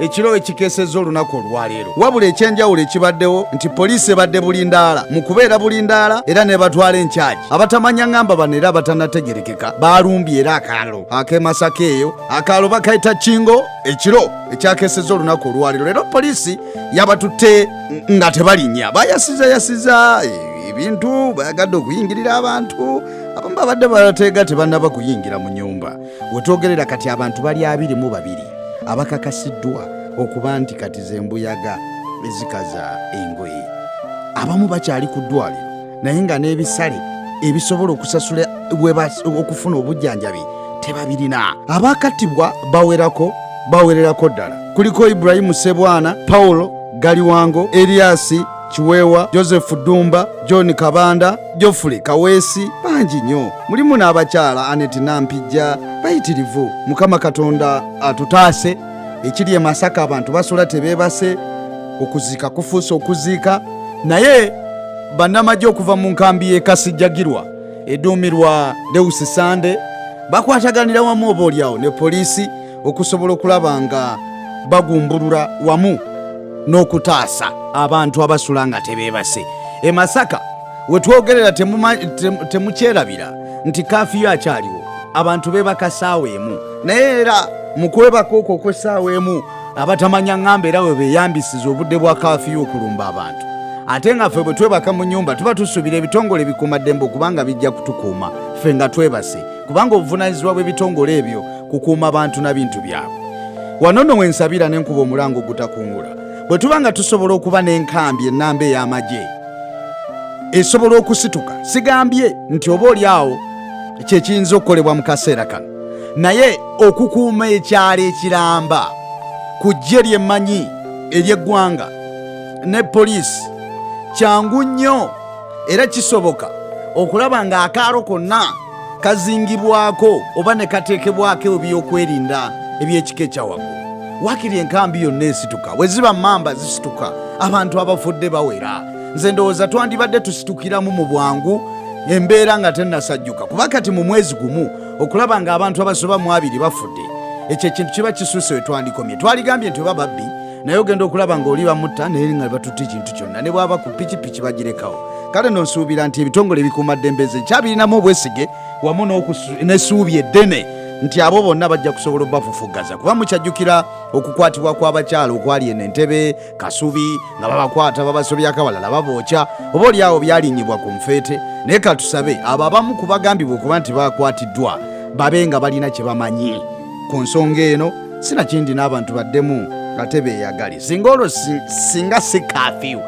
ekiro ekikeseza olunaku olwaleero wabula ekyenjawulo ekibaddewo nti poliisi ebadde bulindaala mu kubeera bulindaala era nebatwala enkyagi abatamanya ngamba bano era abatanategerekeka baalumbye era akaalo ak'emasaka eyo akaalo bakayita kingo ekiro ekyakeseza olunaku olwaleero leero poliisi yabatutte nga tebalinnya bayasiza yasiza eh, ebintu bayagadde okuyingirira abantu abamu babadde bateega tebanaba kuyingira mu nyumba wetwogerera kati abantu bali abiri mu babiri abakakasiddwa okuba nti kati zembuyaga ezikaza engoye abamu bakyali ku ddwaliro naye nga n'ebisale ebisobola okusasula okufuna obujjanjabi tebabirina abakattibwa bawerako bawererako ddala kuliko iburahimu sebwana pawulo galiwango eriyasi Kiweewa, Joseph Ddumba, John Kabanda, Geoffrey Kaweesi bangi nnyo. Mulimu n'abakyala Anet Nampijja bayitirivu. Mukama Katonda atutaase. Ekiri e Masaka abantu basula tebeebase, okuziika kufuuse okuziika. Naye bannamagye okuva mu nkambi y'e Kasijjagirwa eduumirwa Deus Sande bakwataganira wamu oboolyawo ne poliisi okusobola okulaba nga bagumbulula wamu n'okutaasa abantu abasula nga tebeebase e masaka we twogerera temukyerabira nti kafiyo akyaliwo abantu beebaka saawa emu naye era mu kwebaka okwo okw'essaawa emu abatamanya ŋŋamba era we beeyambisiza obudde bwa kafiyo okulumba abantu ate nga ffe bwe twebaka mu nyumba tuba tusuubira ebitongole bikuumaddembe okubanga bijja kutukuuma ffe nga twebase kubanga obuvunaanyizibwa bw'ebitongole ebyo kukuuma bantu na bintu byabwe wano no wensabira ne nkuba omulango ogutakungula bwe tuba nga tusobola okuba n'enkambi ennamba ey'amagye esobola okusituka sigambye nti oba oli awo kyekiyinza okukolebwa mu kaseera kano naye okukuuma ekyalo ekiramba ku ggye lyemmanyi ery'eggwanga ne poliisi kyangu nnyo era kisoboka okulaba ng'akaalo konna kazingibwako oba ne kateekebwako ebyokwerinda eby'ekika ekyawaggulu wakiri enkambi yonna esituka bwe ziba mamba zisituka abantu abafudde bawera nze ndowooza twandibadde tusitukiramu mu bwangu embeera nga tennasajjuka kuba kati mu mwezi gumu okulaba ng'abantu abasoba mu abiri bafudde ekyo ekintu kiba kisuuse we twandikomye twaligambye nti oba babbi naye ogenda okulaba ng'oli bamutta naye nga batutte ekintu kyonna ne bwaba ku pikipiki bagirekawo kale no nsuubira nti ebitongole ebikuuma ddembe ze nkyabirinamu obwesige wamu n'essuubi eddene nti abo bonna bajja kusobola obafufuggaza kuba mukyajjukira okukwatibwa kw'abakyala okwali eno entebe kasubi nga babakwata babasobyako abalala babookya oba olyawo byalinyibwa ku nfeete naye katusabe abo abamu ku bagambibwa okuba nti bakwatiddwa babe nga balina kye bamanyi ku nsonga eno sinakindi n'abantu baddemu ate beeyagale singa olwo singa si kafiyu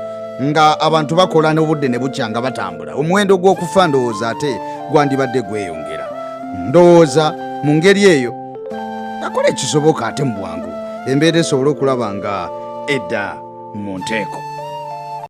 nga abantu bakola n'obudde ne bukya nga batambula omuwendo gw'okufa ndowooza ate gwandibadde gweyongera ndowooza mu ngeri eyo akola ekisoboka ate mu bwangu embeera esobole okulaba nga edda mu nteeko